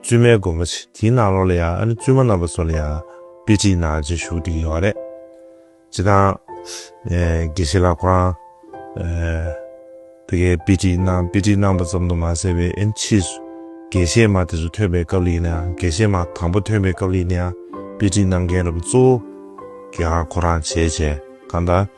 བཙུན་མའི་སྒོ་མོ་ཆེ་དེའི་ནང་ལོགས་ལ་ཡང་ཨ་ནི་བཙུན་མ་རྣམ་པ་ཚོ་ལ་ཡང་དཔེ་ཁྲིད་ནང་རྗེས་ཞུགས་འགྲིག་ཡོད་རེད། སྤྱིར་བཏང། དགེ་བཤེས་ལགས་ཁོ་རང། དེ་གའི་དཔེ་ཁྲིད་ནང་དཔེ་ཁྲིད་གནང་པ་ཙམ་དུ་མ་ཟད་པའི་ཨེན་ཕྱིས་སུ་དགེ་བཤེས་མ་དེ་ཚོ་ཐོན་པའི་སྐབས་ལ་ཡིན་ན་ཡང་དགེ་བཤེས་མ་དང་པོ་ཐོན་པའི་སྐབས་ལ་ཡིན་ན་ཡང་དཔེ་ཁྲིད་གནང་མཁན་རམ་གཙོ་བོ། དགེ་ཁང་ཁོ་རང་བྱས་བྱས་གང་ལྟར།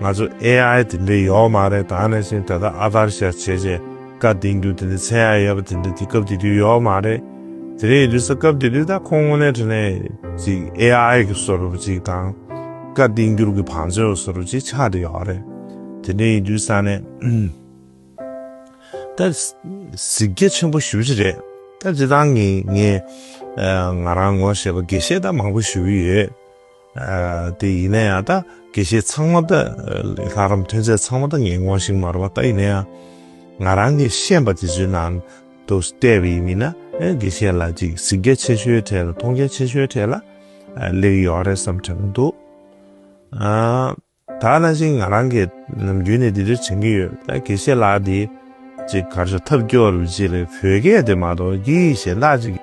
ང་ཚོ AI དེ་འདྲ་ཡོད་མ་རེད་ད་ནས་བཟུང་ད་ལྟ་ཨ་ཐར་ཤ་བྱེད་བྱེད་བཀའ་གདེང་རྒྱུ་དེ་འདྲ་མཚན་ཡ་ཡོད་པ་དེ་འདྲ་དེ་སྐབས་དེ་དུས་ཡོད་མ་རེད་དེ་རེད་འདུག་ས་སྐབས་དེ་དུས་ད་ཁོང་དངོས་གནས་དྲི་ནས་ཅིག AI གི་ཟུར་བུ་ཅིག་དང་བཀའ་གདེང་རྒྱུར་གི་བང་མཛོད་ཟུར་བུ་ཅིག་ཆགས་དེ་ཡོད་རེད་དེ་འདྲ་ཡིན་དུས་ས་ནས་ད་གཟིགས་རྒྱ་ཆེན་པོ་ཞུ་བྱེད་རེད་ད་འདྲི་སྟངས་ངས་ང་རང་ངོ་ཤེས་པ་དགེ་བཤེས་ད་མང་པོ་ཞུ་གི་ཡོད། དེ་ཡིན་ན་ཡང་ད་དགེ་བཤེས་ཚང་མ་ད་ལྷ་རམས་ཐོན་རྫས་ཚང་མ་ད་ངན་གོང་ཞིག་མ་རུ་བ་ད་ཡིན་ན་ཡང་ང་རང་གི་ཤེས་པ་དེ་ཚོའི་ནང་དུ་བལྟས་པ་ཡིན་མིན་ན་དགེ་བཤེས་ལ་ཅིག་གཟིགས་རྒྱ་ཆེ་ཤོའི་གྲས་ལ་མཐོང་རྒྱ་ཆེ་ཤོའི་གྲས་ལ་སླེབས་ཡོད་རེད་བསམ་དྲན་གྱི་འདུག། ད་ནང་བཞིན་ང་རང་གིས་ནམ་རྒྱུན་ནས་འདི་འདྲ་བྱེད་ཀྱི་ཡོད། ད་དགེ་བཤེས་ལགས་འདི་ཅིག་གར་ཆག་ཐབས་སྐྱོ་རུ་བྱེད་ལེ་བོད་སྐད་དེ་མ་གཏོགས་ཀྱི་གཞན་དག་ཅིག་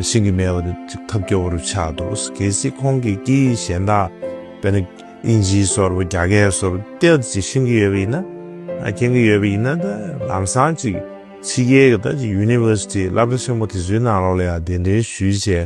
ཤེས་ཀྱི་མེད་པ་འདི་ཅིག་ཐབས་སྐྱོ་བོ་རུ་ཆགས་འདུག་གལ་སྲིད་ཁོང་གིས་ཀྱི་གཞན་དག་དཔེར་ན་ཨིན་ཇིའི་སོར་བུ་རྒྱ་སྐད་སོར་བུ་དེ་ཅིག་ཤེས་ཀྱི་ཡོད་པ་ཡིན་ན་མཁྱེན་གྱི་ཡོད་པ་ཡིན་ན་ད་ལམ་སང་ཅིག་ཕྱི་རྒྱལ་གྱི་ད་ཅིག University བསླབ་གྲྭ་ཆེན་མོ་དེ་ཚོའི་ནང་ལོགས་ལ་ཡང་གདན་འདྲེན་ཞུས་བྱས་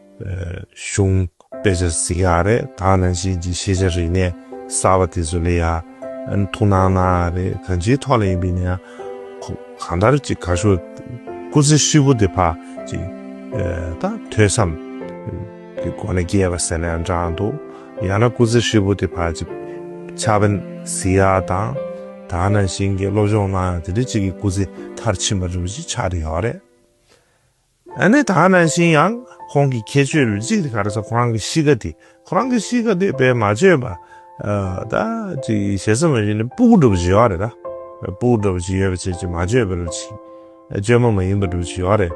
གཞུང་དཔེ་ཆ་ཟིག་ཡ་རེད་ད་ནང་བཞིན་གྱི་ཤེས་བྱ་རིག་གནས་གསར་བ་དེ་ཚོ་ལས་ཡ་ཐུགས་སྣང་གནང་ཡ་རེད་གང་ཅིའི་ཐོག་ལ་ཡིན་པའི་ནང་གང་ལྟར་གྱི་གར་ཤོག་སྐུ་ཚེ་ཧྲིལ་བོ་དེ་ཕར་གྱི་དང་ཐོས་བསམ་གྱི་སྒོ་ནས་བསྐྱལ་བ་ཟེར་ན་ཡང་འདྲ་འདུག་ཡང་ན་སྐུ་ཚེ་ཧྲིལ་བོ་དེ་ཕར་གྱི་ཕྱག་དཔེ་ཟིག་ཡ་དང་ད་ནང་བཞིན་གྱི་སློབ་སྦྱོང་གནང་ཡ་དེ་འདྲའི་གཅིག་གི་སྐུ་ཚེ་མཐར་ཕྱིན་པ་རེད་བ་གཅིག་ཆགས་འདྲ་ཡོད་རེད། ཨ་ནེ་ད་ནང་བཞིན་ཡང་ཁོང་གི་ཁྱད་ཆོས་རུ་གཅིག་དེ་ག་རེ་ཟ་ཁོ་རང་གི་གཤིས་ཀ་དེ་ཁོ་རང་གི་གཤིས་ཀ་དེ་བས་མ་བཅོས་པ་ད་ཅིག་ཞེ་ས་མ་བཞིན་ནི་སྤུ་གུ་འདྲ་བོ་ཞིག་ཡོད་རེད་ད། སྤུ་གུ་འདྲ་བོ་ཞིག་ཡོད་པ་ཆེ་ཆེ་མ་བཅོས་པ་རུ་ཆིག་བཅོས་མ་མ་ཡིན་པ་འདྲ་བོ་ཞིག་ཡོད་རེད།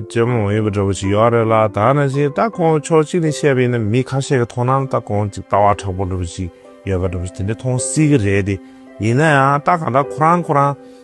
བཅོས་མ་མ་ཡིན་པ་འདྲ་བོ་ཞིག་ཡོད་རེད་ལ་ད་ནང་བཞིན་ད་ཁོང་ཕྱོགས་གཅིག་ནས་བཤད་པ་ཡིན་ན་མི་ཁ་ཤས་ཀྱི་ཐོག་ནང་ད་ཁོང་ཅིག་ལྟ་བ་དྲག་པོ་འདྲ་བོ་ཞིག་ཡོད་པ་འདྲ་བོ་ཞིག་དེ་འདྲ་མཐོང་སྲིད་ཀྱི་རེད་དེ་ཡིན་ན་ཡང་ད་གང་ལྟར་ཁོ་རང་ཁོ་རང།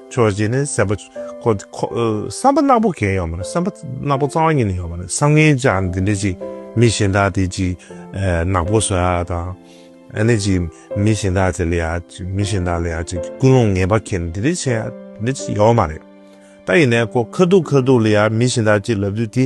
ཆོས་རྗེ་ནི་བསམ་པ། བསམ་པ་ནག་པོ་གས་ཡོད་མ་རེད་བསམ་པ་ནག་པོ་གཙང་བ་ཉིད་ནས་ཡོད་མ་རེད་བསམ་ངན་ཅག་འདི་འདྲ་ཅིག་མི་གཞན་དག་དེ་ཅིག་ནག་པོ་བཟོ་ཡག་དང། ཨ་ནི་ཅིག་མི་གཞན་དག་དེ་ལ་ཡག་ཅིག་མི་གཞན་དག་ལ་ཡག་ཅིག་ཀུན་སློང་ངན་པ་ཁེན་འདི་འདྲ་བྱས་ཡག་འདི་འདྲ་ཅིག་ཡོད་མ་རེད། ད་ཡིན་ནས་ཁོ་ཁ་ཐུག་ཁ་ཐུག་ལ་ཡག་མི་གཞན་དག་ཅིག་ལབ་དུས་དེ་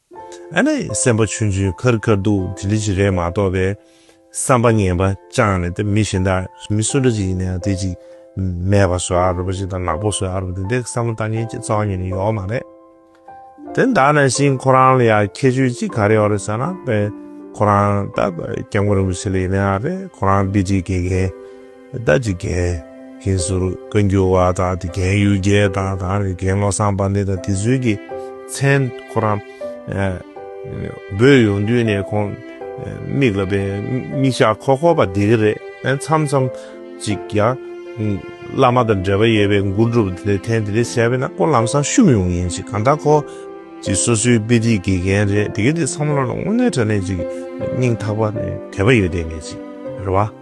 ཨ་ནི་སེམས་པ་ཆུན་ཆུན་ཁར་དཀར་འདུག་དེ་འདྲ་ཞིག་རེད་མ་གཏོགས་པའི་བསམ་པ་ངན་པ་བཅངས་ནས་དེ་མི་གཞན་དག་མི་སུ་འདྲ་ཞིག་ཡིན་ནའང་དེ་ཅིག་མེད་པ་བཟོ་ཨ་རུ་པ་ཞིག་དང་ནག་པོ་བཟོ་ཨ་རུ་པ་དེ་འདྲའི་བསམ་བློ་ལྟ་ཉན་གྱི་རྩ་བ་ཉིད་ནས་ཡོད་མ་རེད། དེ་འདྲ་ན་ཞིག་ཁོ་རང་ལ་ཡང་ཁྱད་ཆོས་ཅིག་ག་རེ་ཡོད་རེད་ཟེར་ན་དཔེར་ན་ཁོ་རང་ད་སྐྱབས་མགོན་རིན་པོ་ཆེ་ལ་ཡིན་ནའང་རེད་ཁོ་རང་སྦིར་སྒྲིག་དགེ་རྒན། ཟླ་གཅིག་རྒན། ཤིང་ཟུར་བཀའ་འགྱུར་བ་དང་དེ་རྒན་ཡུལ་རྒྱལ་དང་དང་རེ་རྒན་བློ་བཟང་པ་འདི་དང་དེ་ཚུལ་གྱི་མཚན། ཁོ་རང། འབོད་ཡོང་དུས་ནས་ཁོང། མིག་ལ་བའི་མིག་ཞགས་ཁོག་ཁོག་པ་འདི་གི་རེད་ཨེ་མཚམས་མཚམས། ཅིག་ཡང། བླ་མ་དང་འབྲེལ་བ་ཡོད་པའི་མགུར་སྒྲུབ་དེ་ལས་ཐེངས་དེ་རེ་བྱས་པས་ན་ཁོ་ལམ་སང་བཤུམ་ཡོང་ཡིན་ཅིག་གང་ལྟར་ཁོ། ཅིག་སོ་སོའི་དཔེ་ཁྲིད་དགེ་རྒན་རེད་དེ་གི་དེ་བསམ་བློ་ལ་དངོས་གནས་དྲན་ནས་ཅིག་སྙིང་ཐག་པ་ནས་དད་པ་ཡོད་དེ་ངེས་ཅིག་རེད་བ།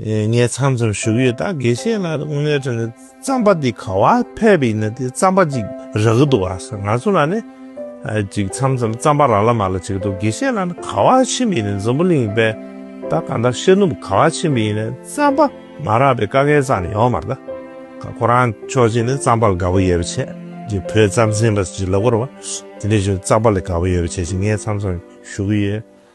ངས་ཚང་ཚོར་ཞུགས་ཡོད་ད་དགེ་བཤེས་ལགས་དངོས་གནས་དྲན་ནས་རྩམ་པ་འདི་ག་བ་ཕལ་པའི་ཡིན་ན་དེ་རྩམ་པ་ཅིག་རག་གི་འདུག་ཨ་ཟེར་ང་ཚོ་ལ་ནི་ཅིག་ཚམ་ཚོམ་རྩམ་པ་ར་ལ་མ་ལ་ཅིག་འདུག་དགེ་བཤེས་ལགས་ནི་ག་བ་ཕྱིན་པའི་ཡིན་ན་འཛམ་བུ་གླིང་པས་ད་ག་འདྲ་ཤེས་ནུབ་ག་བ་ཕྱིན་པའི་ཡིན་ན་རྩམ་པ་མ་རག་པའི་ཀ་ཁའི་རྩ་ནི་ཡོག་མར་ད་ག་ཁོ་རང་ཆོག་ཅིག་ནི་རྩམ་པ་ལ་ག་བ་ཡོད་པ་བྱས་ཅིག་བོད་རྩམ་ཟན་པ་ཅིག་ལ་བོར་བ་དེ་ནས་བཞུགས་རྩམ་པ་ལ་ག་བ་ཡོད་པ་བྱས་ཅིག་ངས་ཚང་ཚོར་ཞུགས་ཡོད།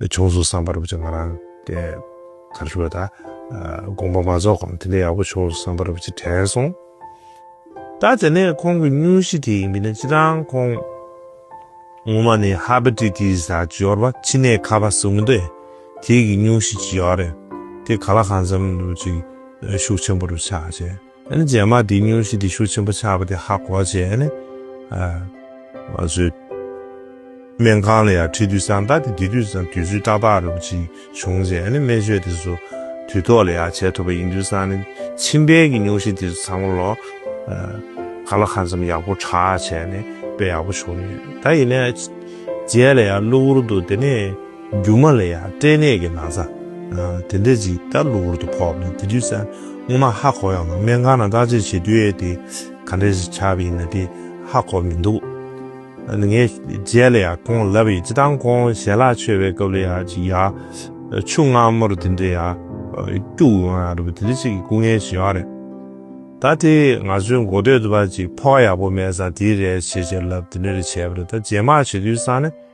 བྱུང་སོང་བསམ་པར་བུ་ཆེ་ང་རང་དེ་གར་ཞུགས་ལ་ད་དགོངས་པ་མ་རྫོགས་གོང་དེ་འདྲ་ཡག་པོ་བྱུང་སོང་བསམ་པར་བུ་ཆེ་དྲན་སོང། ད་དེ་ནས་ཁོང་གི་སྙུན་གཞི་དེ་ཡིན་པས་ན་སྤྱིར་བཏང་ཁོང་ངོ་མ་ནི་ཧ་པ་ཏི་ཏི་སྲ་ཅི་ཡོར་བ་ཕྱི་ནད་ཁ་བ་ཟུག་འདི་དེ་གི་སྙུན་གཞི་ཅི་ཡོར་རེད་དེ་ག་ལ་གང་འཚམས་ཅིག་ཤུགས་ཆེན་པོར་ཆགས་བྱས། ཨ་ནི་རྗེས་མ་དེ་སྙུན་གཞི་དེ་ཤུགས་ཆེན་པོ་ཆགས་པ་དེ་ཧ་གོ་བྱས་ཨ་ནི། ཨ། ང་ཚོའི། སྨན་ཁང་ལ་ཡང་ཁྲིད་དུས་སང་ད་དེ་དེ་དུས་སང་དུས་ཚོད་ཏག་ཏག་རེ་བོ་ཅིག་བྱུང་རྗེས་ཨ་ནི་སྨན་བཅོས་དེ་ཚོ་དུས་ཐོག་ལ་ཡང་བྱས་ཐུབ་པ་ཡིན་དུས་སང་ཨ་ནི་མཆིན་པའི་གི་སྙུན་གཞི་དེ་ཚོ་ཚང་མ་ལོ། ཨ། ག་ལ་ཧ་འཚམས་ཡག་པོ་དྲག་བྱས་ཨ་ནི་དཔེ་ཡག་པོ་བྱུང་ཡོད་ད་ཡིན་ནའི། རྗེས་ལ་ཡང་གློ་བུར་དུ་དེ་ནི། རྒྱུ་མ་ལ་ཡང་སྐྲན་ནད་ཀྱི་ན་བཟའ་དེ་འདྲ་ཅིག་ལྟ་གློ་བུར་དུ་ཕོག་ནས་དེ་དུས་སྔོན་མ་ཧ་གོ་ཡང་སྨན་ཁང་ན་བརྟག་དཔྱད་བྱེད་དུས་ཨེ་དེ་ག་འདྲ་ཞིག་ཆགས་པ་ཡིན་ན་དེ་ཧ་གོ་མི་འདུག་ངས་རྗེས་ལ་ཡང་ཁོང་ལབ་ཡོད་སྤྱི་བཏང་ཁོང་ཞལ་ལག་མཆོད་པའི་སྐབས་ལ་ཡང་ཅིག་ཡར་ཆུ་མངར་མོར་དེ་འདྲ་ཡར་སྐྱུག་ཡོང་ཡང་རེད་པ་དེ་འདྲ་ཅིག་གི་སྐུ་ངལ་བྱུང་ཡང་རེད། ད་དེ་ང་ཚོའི་མགོ་སྟོད་དུ་བ་ཅིག་ཕོག་ཡག་པོ་མེད་ས་དེའི་རེད་བྱེད་བྱེད་ལབ་དེ་འདྲ་རེད་བྱས་པ་རེད་ད་རྗེས་མར་བྱེད་དུས་སང་ནི།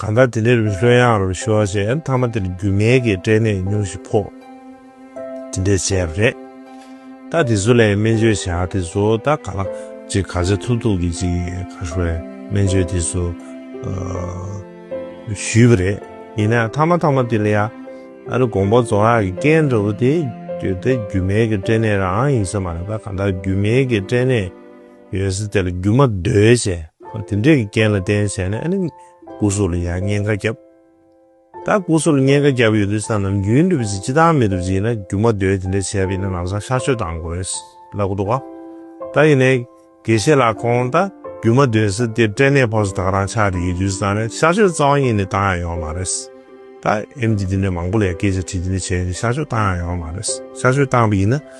གང་ལྟར་དེ་ནས་རུ་ལྷོད་ཡངས་རུ་ཤོར་རྗེས་མཐའ་མ་དེར་རྒྱུ་མེད་ཀྱི་སྐྲན་ནད་ཉུང་ཞིག་ཕོག། དེ་འདྲས་བྱས་པ་རེད། ད་དེ་ཚོ་ལས་སྨན་བཅོས་བྱ་དེ་ཚོ་ད་ག་ལ། ཅིག་ག་ཚད་ཐུབ་ཐུབ་ཀྱི་ཅིག་ག་ཧྲུལ་བའི་སྨན་བཅོས་དེ་ཚོ། ཞུས་པ་རེད། ཡིན་ནའང་མཐའ་མ་མཐའ་མ་དེ་ལ་ཡང། ཨ་རི་གོང་པོ་རྫོང་ཡག་གི་སྐད་འདྲ་བོ་དེ། དེ་རྒྱུ་མེད་ཀྱི་སྐྲན་ནད་རང་ཡིན་ས་མ་རེད་ད་གང་ལྟར་རྒྱུ་མེད་ཀྱི་སྐྲན་ནད། ཡོད་ས་དེ་ལ་རྒྱུ་མ་བརྡོལ་བྱས། དེ་འདྲའི་རྐྱེན་ལ་བརྟེན་བྱས་ནས་ཨ་ནི་སྐུ་གཟུགས་ལ་ཡང་བསྙེན་ཁ་བརྒྱབ། ད་སྐུ་གཟུགས་ལ་བསྙེན་ཁ་བརྒྱབ་ཡོད་དུས་ས་ནམ་རྒྱུན་འགྲུབ་ཅིག་སྤྱི་བཏང་མི་འགྲུབ་ཅིག་ཡིན་ན་རྒྱུ་མ་བརྡོལ་དེ་འདྲ་བྱས་པ་ཡིན་ན་ལམ་སང་ཤར་ཆོས་བཏང་དགོས་ལབ་གི་འདུག་ཨ། ད་ཡིན་ནའི་དགེ་བཤེས་ལགས་ཁོང་ད་རྒྱུ་མ་བརྡོལ་ས་དེ་སྐྲན་ནད་ཕོག་ས་དག་རང་ཆགས་རེད་ཡིན་དུས་ས་ནི་ཤར་ཆོས་རྩ་བ་ཉིད་ནས་བཏང་ཡང་ཡོང་མ་རེད། ད་ཨེམ་ཆི་དེ་འདྲའི་མང་པོ་ལས་སྐད་ཆ་དྲིས་དེ་འདྲ་བྱས་ཡིན་དུས་ཤར་ཆོས་བཏང་ཡང་ཡོང་མ་རེད། ཤར་ཆོས་བཏང་པ་ཡིན་ན།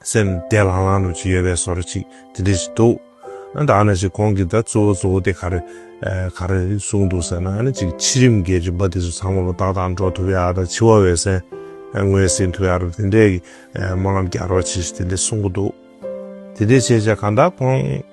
སེམས་བདེ་ལྷང་ལྷང་དུ་ཅིག་ཡོད་པའི་སོར་ཅིག་དེ་འདྲས་ཅིག་འདུག། ཨ་ད་ཨ་ན་ཅིག་ཁོང་གིས་ད་གཙོ་བོ་གཙོ་བོ་དེ་ག་རེ། ག་རེ་གསུངས་འདུག་ཟེར་ན་ཨ་ན་ཅིག་ཕྱི་རིམ་འགལ་གྱི་འབའ་དེ་ཚོ་ཚང་མ་པོ་ཏག་ཏག་འགྲོ་ཐུབ་ཡ་ད་འཆི་བ་འོད་གསལ་ངོས་ཟིན་ཐུབ་ཡ་རབས་དེ་འདྲས་ཀྱི་སྨོན་ལམ་རྒྱག་རོགས་ཅིག་དེ་འདྲས་གསུངས་གི་འདུག་དེ་འདྲས་བྱས་བྱས་གང་ལྟར་ཁོང།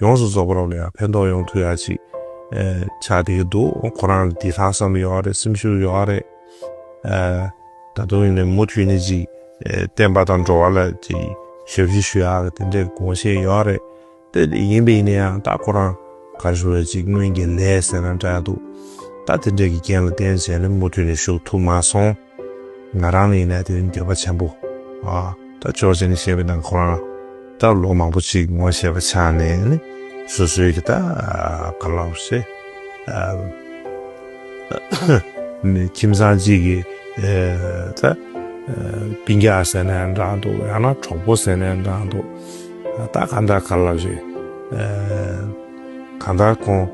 ཡོངས་སུ་རྫོགས་པ་རབ་ལ་ཡང་ཕན་ཐོགས་ཡོང་ཐུབ་ཡ་ཅིག་བྱ་བསྡད་ཀྱི་འདུག་ཁོ་རང་ལ་དེ་ལྷག་བསམ་ཡོད་རེད་སེམས་ཤུགས་ཡོད་རེད། ད་དུང་ཡིན་ནའི་མུ་མཐུད་ནས་ཅིག་བསྟན་པ་དང་འགྲོ་བ་ལ་ཞབས་ཕྱི་ཞུ་ཡ་གི་དེ་འདྲའི་དགོངས་བཞེད་ཡོད་རེད། དེ་ལས་ཡིན་པ་ཡིན་ན་ཡང་ད་ཁོ་རང་གར་ཞུ་རེད་ཅིག་སྔོན་གྱི་ལས་ཟེར་ན་འདྲ་འདུག་ད་དེ་འདྲའི་གི་རྐྱེན་ལ་བརྟེན་བྱས་ནས་མུ་མཐུད་ནས་ཞུགས་ཐུབ་མ་སོང། ང་རང་ལ་ཡིན་ན་དེ་ནི་འགྱོད་པ་ཆེན་པོ། ད་ཅོག་ཅེ་ནི་བཤད་པའི་ནང་ཁོ་རང་ད་ལོ་མང་པོ་ཅིག་ངོ་ཤེས་པ་ཆགས་ནས་ནི་སོ་སོའི་གི་ད་ག་ལ་བཤད། ཁྱིམ་ཚང་གཅིག་གི་ད་སྤིན་རྒྱག་ཟེར་ནས་འདྲ་འདུག་ཡང་ན་གྲོགས་པོ་ཟེར་ནས་འདྲ་འདུག་ད་ག་འདྲ་ག་ལ་རེད། གང་ལྟར་ཁོང་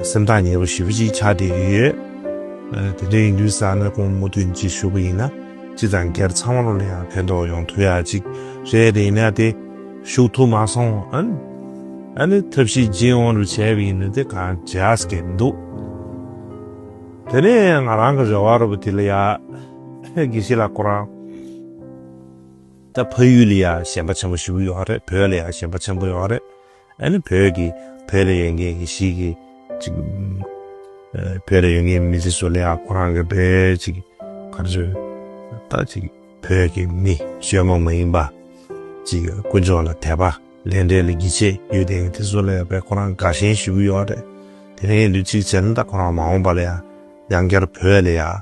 སེམས་ཐག་ཉེ་བོ་ཞེ་བོ་ཅིག་ཆགས་བསྡད་ཀྱི་ཡོད། དེ་འདྲའི་ཡིན་དུས་བསམ་ན་ཁོང་མུ་མཐུད་འཇིགས་ཞུགས་པ་ཡིན་ན་སྤྱི་དང་སྒེར་ཚང་མར་ཡང་ཕན་ཐོགས་ཡོང་ཐུབ་ཡག་ཅིག་རེད་དེ་ཡིན་ན་དེ་ཞུགས་ཐུབ་མ་སོང་ཨང། ཨ་ནི་ཐབས་ཤེས་སྦྱིན་ཨོང་རུ་བྱས་པ་ཡིན་ན་དེ་གང་བྱས་ཨ་སྐད་མི་འདུག་དེ་ནས་ང་རང་གི་རེ་བ་རུ་བ་དེ་ལ་ཡག་དགེ་བཤེས་ལགས་ཁོ་རང་ད་ཕ་ཡུལ་ལ་ཡག་ཞན་པ་ཆེན་པོ་ཞེ་བོ་ཡོད་རེད་བོད་ལ་ཡག་ཞན་པ་ཆེན་པོ་ཡོད་རེད། ཨ་ནི་བོད་ཀྱི་བོད་ལ་ཡོད་མཁན་གྱི་ཞིག་གིས་ཅིག། བོད་ལ་ཡོད་མཁན་མི་ཚེ་སོ་ལེ་ཡག་ཁོ་རང་གི་བོད་ཅིག་ག་རེ་ཟོས་ད་ཅིག་བོད་ཀྱི་མི་ཞོལ་མོ་མ་ཡིན་པ་ཅིག་དཀོན་མཆོག་ལ་དད་པ་ལས་འབྲས་ལ་གི་ཆེ་ཡོད་དེ་མི་ཚེ་སོ་ལེ་ཡག་པའི་ཁོ་རང་དགའ་ཞེན་ཞུ་གི་ཡོད་རེད་དེ་ནས་ཡིན་དུས་ཅིག་བྱས་ན་ད་ཁོ་རང་མ་འོངས་པ་ལ་ཡང་ཡང་བསྐྱར་བོད་ལ་ཡག།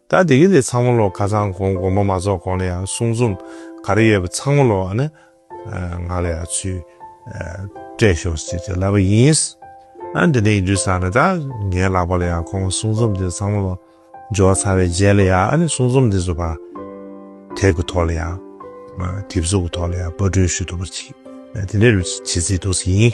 ད་དེ་གི་དེ་ཚང་མ་ལོ་ཁ་ཚང་གོང་དགོང་པོ་མ་རྫོགས་གོང་ལ་ཡང་གསུང་རྩོམ་ག་རེ་ཡོད་པ་ཚང་མ་ལོ་ནི་ང་ལ་ཡང་ཚུལ་སྤྲད་ཞོག་ཅེས་ཀྱི་ལབ་པ་ཡིན། ཨ་འདི་འདྲའི་ཡིན་དུས་ས་ནི་ད་ངའི་ལག་པ་ལ་ཡང་གོང་མ་གསུང་རྩོམ་དེ་ཚང་མ་ལོ་འབྱོར་ཚར་བའི་རྗེས་ལ་ཡང་ཨ་ནི་གསུང་རྩོམ་དེ་ཚོ་པར་དེབ་ཀྱི་ཐོག་ལ་ཡང་དེབ་གཟུགས་ཀྱི་ཐོག་ལ་ཡང་པར་སྐྲུན་ཞུ་ཐུབ་པར་བྱེད་དེ་འདྲའི་རུ་བྱེད་རྩིས་འདུག་ཡིན།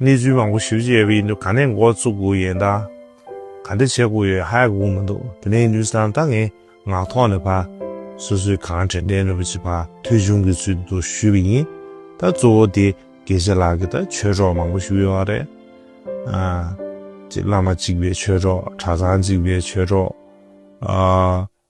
གནས་ཚུལ་མང་པོ་ཞིབ་གཅིག་ཡོད་པ་ཡིན་འདུག་ག་ནས་འགོ་བཙུགས་དགོས་ཡོད་ད། ག་འདྲ་བྱེད་དགོས་ཡོད་ཧ་ཡག་གོ་མི་འདུག་དེ་ནས་ནུས་སམ་ད་ངས་ངག་ཐོག་ནས་ཕ། སོ་སོའི་གང་དྲན་དྲན་ནུས་པ་ཅིག་ཕ་ཐོས་བྱུང་གི་ཚུལ་དུ་ཞུས་པ་ཡིན། ད་གཙོ་བོ་དེ་དགེ་ཆེ་ལགས་ཀྱིས་ད་ཆོས་གྲོགས་མང་པོ་ཞིག་ཡོད་བ་རེད། ཅེས་བླ་མ་གཅིག་པའི་ཆོས་གྲོགས་གྲྭ་ཚང་གཅིག་པའི་ཆོས་གྲོགས།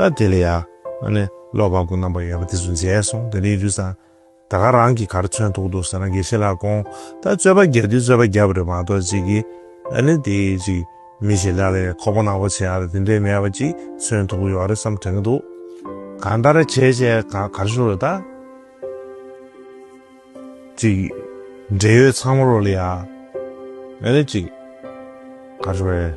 ད་དེ་ལ་ཡང། བློ་དཔང་པོ་རྣམ་པར་ཡོད་པ་དེ་ཚོ་མཇལ་སོང་དེ་རིང་རུས་ཟ། ད་ག་རང་གིས་ག་རེ་མཚོན་ཐུག་འདུག་ཟེར་ན་དགེ་བཤེས་ལགས་དགོངས། ད་རྩོད་པ་བརྒྱབ་དུས་རྩོད་པ་བརྒྱབ་པ་རེད་མ་གཏོགས་ཅི་གི། དེ་ཅིག་མི་ཞིག་ལ་ལས་ཁོག་པ་ནག་པོ་བྱས་ཡག་དེ་འདྲས་མེད་པ་ཅིག་མཚོན་ཐུག་གི་ཡོད་རེད་བསམ་དྲན་གི་འདུག། གང་ལྟར་བྱས་བྱས་གར་ཞུགས་རེད་ད། ཅིག། འབྲེལ་ཡོད་ཚང་མ་རོ་ལ་ཡ། ཅིག། གར་ཞུགས་རེད།